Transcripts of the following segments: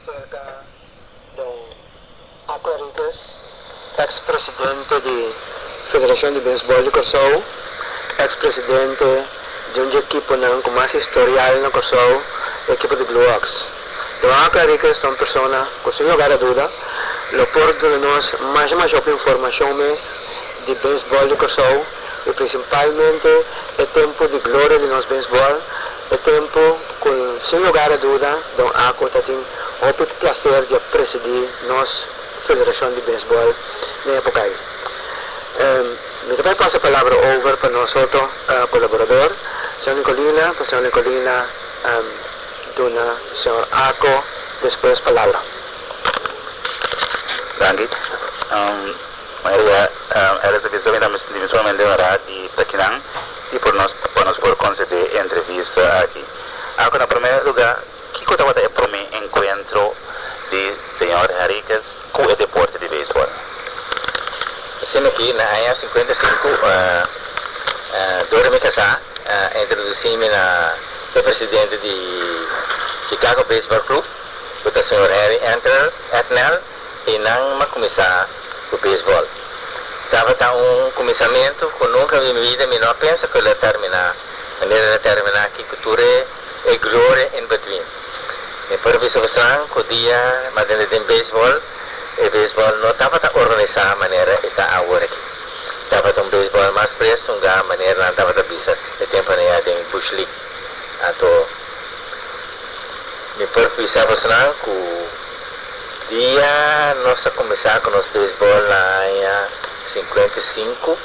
Cerca den Aqua Riquez, ex presidente di Federacion di Bensbol di Corsou, ex presidente di un dje ekiponan cu mas historial na Corsou, e ekipo di Blue Oks. Don Aqua Riquez ta un persona cu sin lugar a duda lo por duna nos masha masha hopi informacion mes di bensbol di Corsou y principalmente e tempo di gloria di nos bensbol, E tempu cu sin lugar a duda Don Ako ta tin hopi placer di a presidi nos Federacion di Baseball den epocai. Mi ta bay pasa e palabra over pa nos otro colaborador, Señor Nicolina, pa Señor Nicolina duna Señor Ako despues palabra. Danki. Manera ya Alice a bisa mi ta sinti mi sumamente honorá di ta kinan. y por nos pa nos por concede e entrevista aki. Acu na primer lugar kico tabata e prome encuentro di señor Henriquez cu e deporte di baseball? Asina aki na aña cincuenta y cinco dor di mi casa a introduci mi na e presidente di Chicago Baseball Club cu ta señor Henry Entner Entner. I nan m'a kuminsá ku beisbòl. Tabata un kuminsamentu ku nunka bin mi vida mi no a pensa ku el a terminá manera el a terminá aki ku tur e gloria in between. Mi por bisa bosonan ku dia m'a tende den beisbòl, e beisbòl no tabata organisá manera e ta awor aki. Tabata un beisbòl mas pres ungá manera nan tabata bisa e tempunan ya den Bush League. Anto mi por bisa bosonan ku. Dia nos a kuminsá ku nos beisbòl na aña sinkuenta i sinku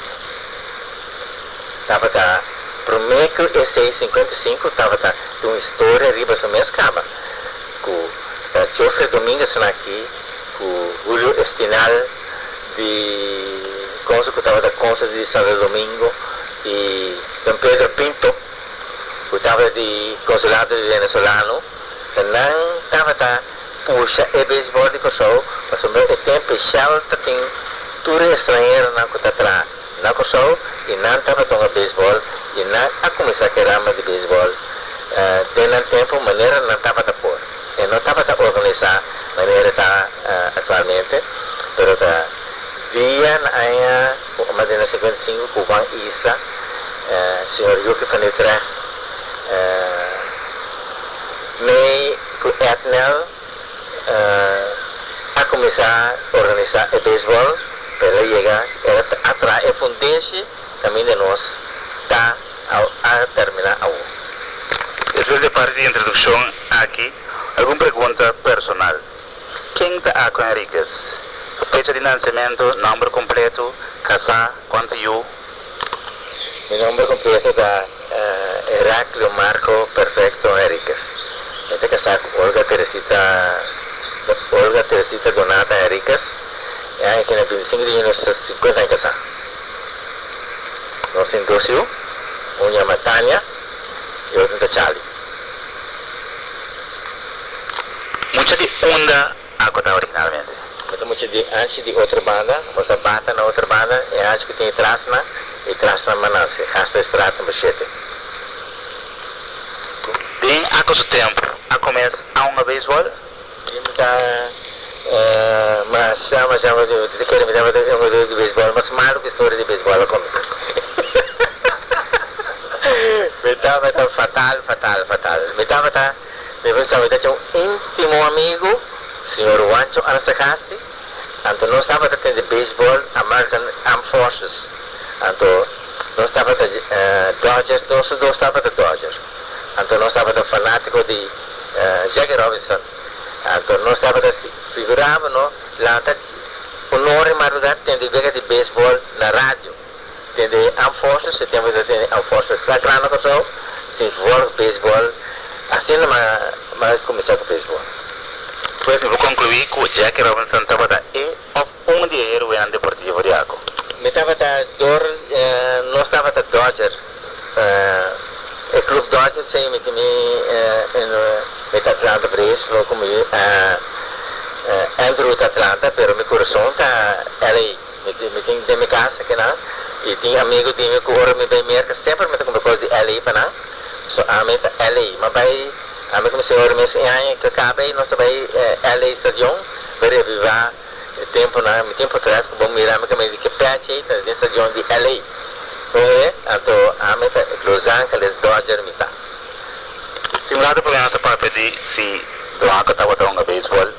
tabata promé ku esei sinkuenta i sinku tabata tin un historia riba su mes kama ku ta Jofre Dominguez Snaki ku Hulio Espinal di konse ku tabata konse di Santo Domingo i Don Pedro Pinto ku tabata di Konsulado di Venesolano. E nan tabata pusha e beisbòl di Kòrsou pasobra e ten peshal ta tin tur e estranheronan ku ta traha na Kòrsou i nan tabata hunga beisbòl i nan a kuminsá ku e rama di beisbòl den nan tempu manera nan tabata por. E no tabata organisá manera e ta aktualmente pero ta dia na aña ku mas di na sinkuenta i sinku ku Juan Isla, señor Yuki van Utrecht, Mi ku Ednel a kuminsá organisá e beisbòl pa e lo yega era ta atraha e fundeshi kaminda nos ta a terminá awo. Despues di e parti di introdukshon aki, algun pregunta personal, Ken ta Ako Henriquez? Fecha di nansementu, nòmber kompletu, kasá, kòntu yu? Mi nomber completo ta Heraclio Marco Perfecto Henriquez. Mi ta casá cu Olga Teresita Olga Teresita Donata Henriquez. E aña kina binticinco di junio nos ta cincuenta aña casá. Nos tin dos hiu, un yama Tania y otro ta Charlie. Mucha di unda. Acu ta originalmente. Mi ta mucha di anchi di otro banda, nos a bata na otro banda, e anchi cu tin e trasna, e trasna manansi, e gas ta estrada tambe shete. Den acu su tempo, a comensa aunga baseball. Di mi ta masha, masha mi ta di kere mi tabata un jugador di baseball mas malo cu historia di baseball a comensa. Mi tabata fatal, fatal, fatal. Mi tabata. Mi por sabia taca un intimo amigu, Sr. Juancho Anasagasti, anto nos tabata tin di baseball American Armed Forces, anto nos tabata Dodger, nos su dos tabata Dodger, anto nos tabata fanatico di Jackie Robinson, anto nos tabata figuraba no lanta un ora di madrugada tin di wega di baseball na radio. Den de Armed Forces, e tempu ta tene Armed Forces Flag Ground Control, tin vork baseball, asina nan nan a kuminsá ku baseball. Pues mi por konkluí ku Jackie Robinson tabata e òf un di e heroenan deportivo di Ako. Mi tabata dor, nos tabata Dodger, e klub Dodger sei mi tin mi en mi ta Atlanta Braves, lo ku mi Andrew ta Atlanta pero mi kurason ta LA. Mi tin, mi tin den mi casa aki nan, y tin amigo di mi cu ora mi bay Merca semper mi ta cumpra cos di LA pa nan. So ami ta LA. Ma bay, ami cu mi señora mes e aña cu a caba ey, nos ta bay LA stadion, bay reaviva e temponan. Mi tin portret cu bo mira mi caminda di ki pech ey ta den stadion di LA. Con e, anto ami ta Los Angeles Dodger mi ta. Si mira ta por hasa papia di si blanco tabata hunga baseball,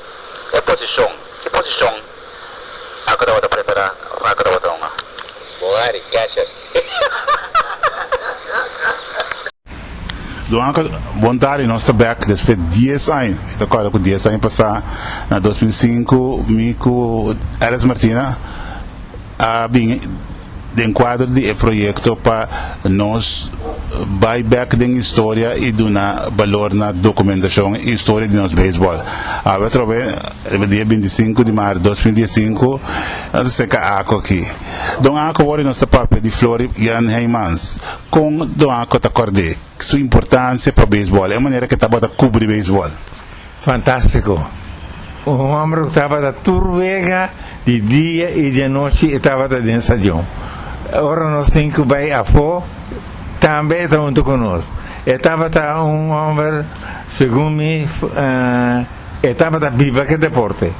e posicion, ki posicion? Ako tabata prepará, ako tabata hunga. Bo hari, Gasher. Don Anka, bon tardi, nos ta bek despues dies aña. Mi ta corda cu dies aña pasá, na dos mil sinku, mi cu Alice Martina a bini. Den kuadro di e proyekto pa nos bai bèk den historia i duna balor na dokumentashon i historia di nos beisbòl, awe atrobe riba dia bintisinku di maart dos mil dies sinku nos a seka Ako aki. Don Ako wòrdu nos ta papia di Flori Jan Heymans, kon Don Ako ta kòrd'é su importansia pa beisbòl, e manera ke tabata kubri beisbòl. Fantastico! Un homber cu tabata tur wega, di dia y di anochi e tabata den stacion. Ora nos tin cu bay afo, tambe e ta hunto cu nos. E tabata un homber, segun mi, e tabata biba cu e deporte.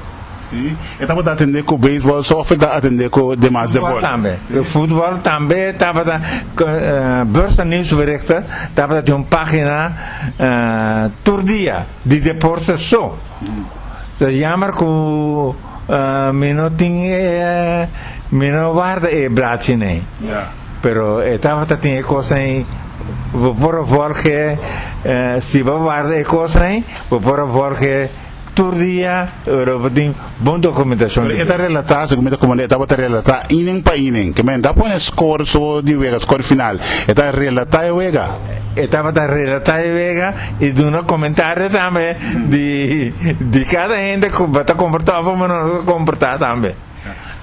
Si, e tabata atende cu baseball, soccer, ta atende cu demas deporte. Futbal tambe. Futbal tambe tabata, Bursa Nieuwsberichten tabata tin un pagina. tur dia di deporte so. Ta jammer cu mi no tin e, mi no warda e blachinen. Pero e tabata tin e cosnan, bo por a volge, si bo warda e cosnan, bo por a volge Tur dia Europa tin bon dokumentacion di Pero e ta relata, segun mi ta komand'é, e tabata relata inen pa inen. Ke men ta pone score so di wega, score final. E ta relata e wega. E tabata relata e wega i duna komentario tambe di di kada hende ku ba ta komportá bai manera ku ta komportá tambe.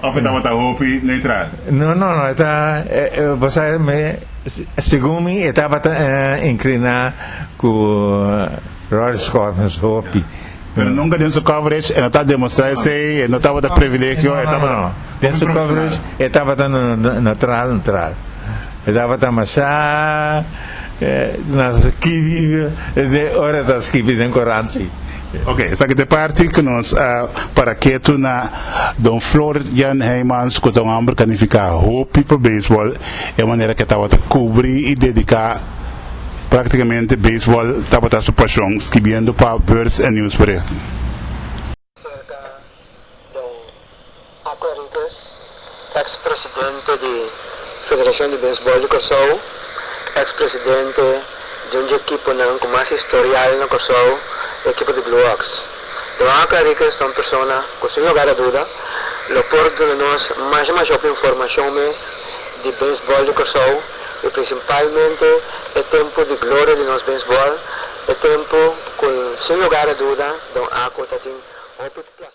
Of e tabata hopi neutral? No, no, no, e ta, e, e, bo sa, me, segun mi, e tabata eh, incliná cu Roger Scott nos hopi. Pero nunca den su coverage e no ta demostrá esei, e no tabata privilegio, e No, no, tabata no. Den hopi su coverage, profesional. e tabata no, no, neutral, neutral. E tabata masá, eh, na skibí, eh, de ora e ta skibí den coranti. Ok, esaki ta e parti ku nos a para ketu na Don Flor Jan Heymans ku ta un homber kanifiká hopi pa beisbòl, e manera ku e tabata kubri i dediká práktikamente beisbòl tabata su pashon, skibiendo pa Beurs en Nieuwsbericht. Aqua Rickers, ex presidente di Federacion di Bensbol di Corsou, ex presidente di un dje ekiponan cu mas historial na Corsou, e ekipo di Blue Ox. Don Aqua Rickers ta un persona cu sin lugar a duda lo por duna nos masha masha hopi informacion mes di bensbol di Corsou y principalmente e tempo di gloria di nos bensbol, e tempo cu sin lugar a duda Don Aqua tatin hopi placer.